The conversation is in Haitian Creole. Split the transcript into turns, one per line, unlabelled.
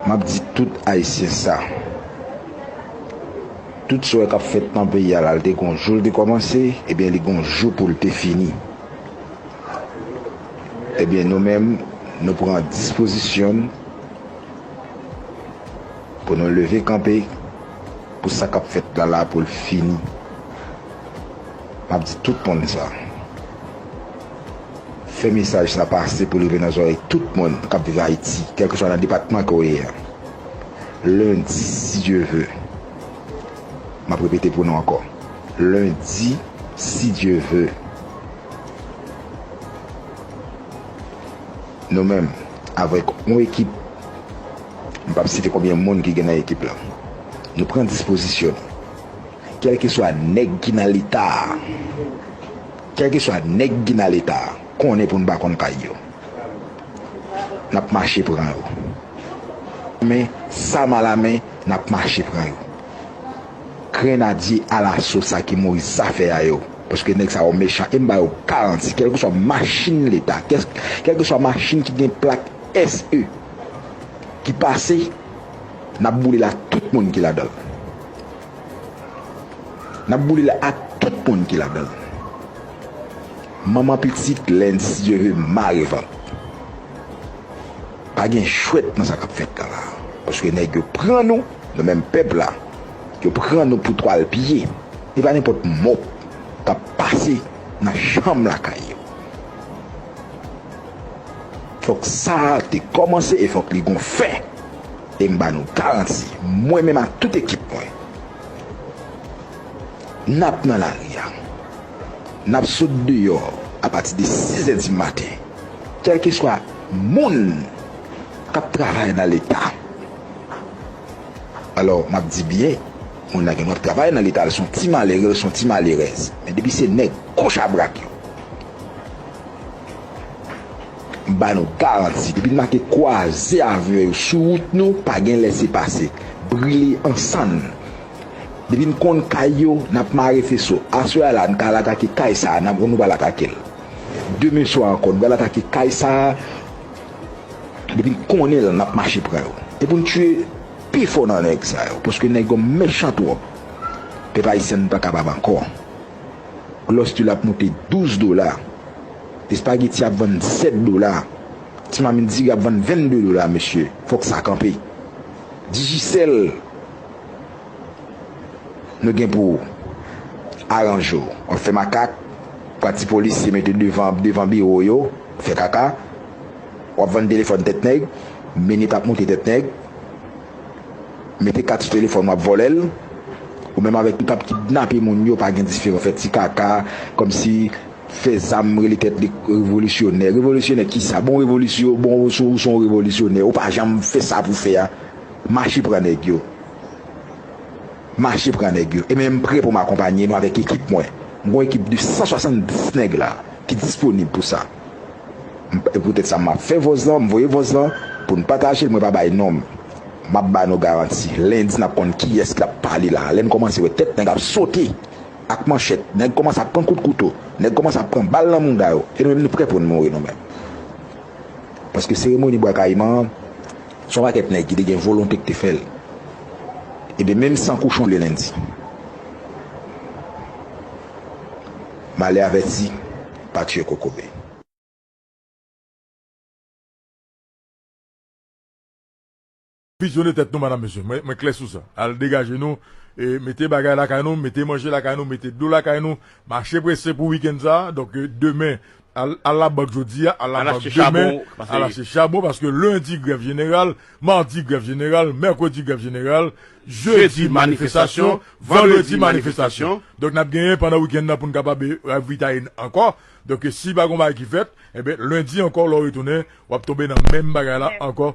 Map di tout ayisyen sa. Tout swe kap fet nan peyi a la li te gon joul te komanse ebyen li gon jou poul te fini. Ebyen nou menm nou pran dispozisyonn pou nou leve kanpe pou sa kap fet la la poul fini. Map di tout moun sa. Fè mesaj sa pase pou l rive nan zòrèy tout moun k ap viv Ayiti, kèlkeswa nan depatman ke w ye a. Lendi, si Dye ve, m ap repete pou nou ankò, lendi, si Dye ve, nou menm, avèk yon ekip, m p ap site konbyen moun ki gen nan ekip la, nou pran dispozisyon nou, kèlkeswa nèg ki nan Leta a, Kelkeswa neg ki nan leta konnen poun pa konn kay yo nap mache pran yo men sa mal a men nap mache pran yo grenadye alaso sa ki mouri zafè a yo paske neg sa yo mechan em bayo garanti kelkeswa machin leta kelkeswa machin ki gen plak SE ki pase nap boulel ak tout moun ki ladanl. Nap boule l ak tout moun ki ladan l. Manman pitit lnsyeve mare vant. Pa gen jwèt nan sa kap fèt la la. Paske nèg yo pran nou, nou menm pèp la, yo pran nou pou twal pye. E pa nenpòt mòp kap pase nan chanm lakay yo. Fòk sa te kòmanse e fòk li gon fen. E m ba nou garanti, mwen menm ak tout ekip mwen, n ap nan lari a, n ap sot deyò apati de sizè dimaten, kèlkeswa moun k ap travay nan Leta. Alò, m ap di byen, moun nan gen dwa ap travay nan Leta, l son ti malere, l son ti malerèz, men depi se nèg goch a brak yo, M ba nou garanti, depi n make kwaze avyon yo sou wout nou, pa gen lèse pase. Brile an sann. Depi n konn kay yo, n ap mare feso. Aswè a la, n ka al atake kay sa a, n ap nou pral atake l. Demen swa ankò, nou pral atake kay sa a. Depi n konnen l, n ap mache pran yo. E pou n tiye pifò nan nèg sa yo, paske nèg yo mechan twòp. Pèp ayisyen, n pa kapab ankò. Glòs du lap moute 12 dola, espageti ap vann 7 dola, ti mamit diri ap vann 22 dola mesye fòk sa kanpe. Digicel nou gen pou aranje w wap fè makak pran ti polisye mete devan devan biwo w yo fè kaka wap vann telefòn tèt nèg minit ap moute tèt nèg. Mete kat sou telefòn wap vòlèl ou menm avèk tout ap kidnape moun yo pa gen diferan fè ti kaka kòmsi fè zam rele tèt li revolisyonè revolisyonè kisa bon revolisyon bon ou son ou revolisyonè ou pa janm fè sa pou fè a mache pran nèg yo mache pran nèg yo e menm prè poum akonpanye nou avèk ekip mwen mwen gon ekip de 170 nèg la ki disponib pou sa. e poutèt sa map fè vòz lan m voye vòz lan pou n patajel mwen pa bay non m map ba nou garanti lendi nap konn kiyès ki ap pale la lè n kòmanse wè tèt nèg ap sote ak manchèt nèg kòmanse ap pran kout kouto nèg kòmanse ap pran bal nan mouda yo e nou menm nou prè pou n mouri nou menm paske seremoni bwa kayiman an son pakèt nèg ki te gen volonte ki te fèl ebyen menm san kouchon le lendi. Male avèti. pa tiye kokobe.
Pityone tèt nou madam mesye mwen klè sou sa al degaje nou mete bagay lakay nou mete manje lakay nou mete dlo lakay nou mache prese pou weekend sa donk demen al labank jodia al labank demen al achte chabon paske lendi grèv jeneral Mardi grèv jeneral, Mercredi grèv jeneral, Jeudi manifestasyon, Vendredi manifestasyon. Donk nap genyen pandan weekend nan poun kapab ravitaye n ankò. Donk si pa gon bagay ki fèt, enben lundi ankò lè w retounen wap tonbe nan menm bagay la ankò.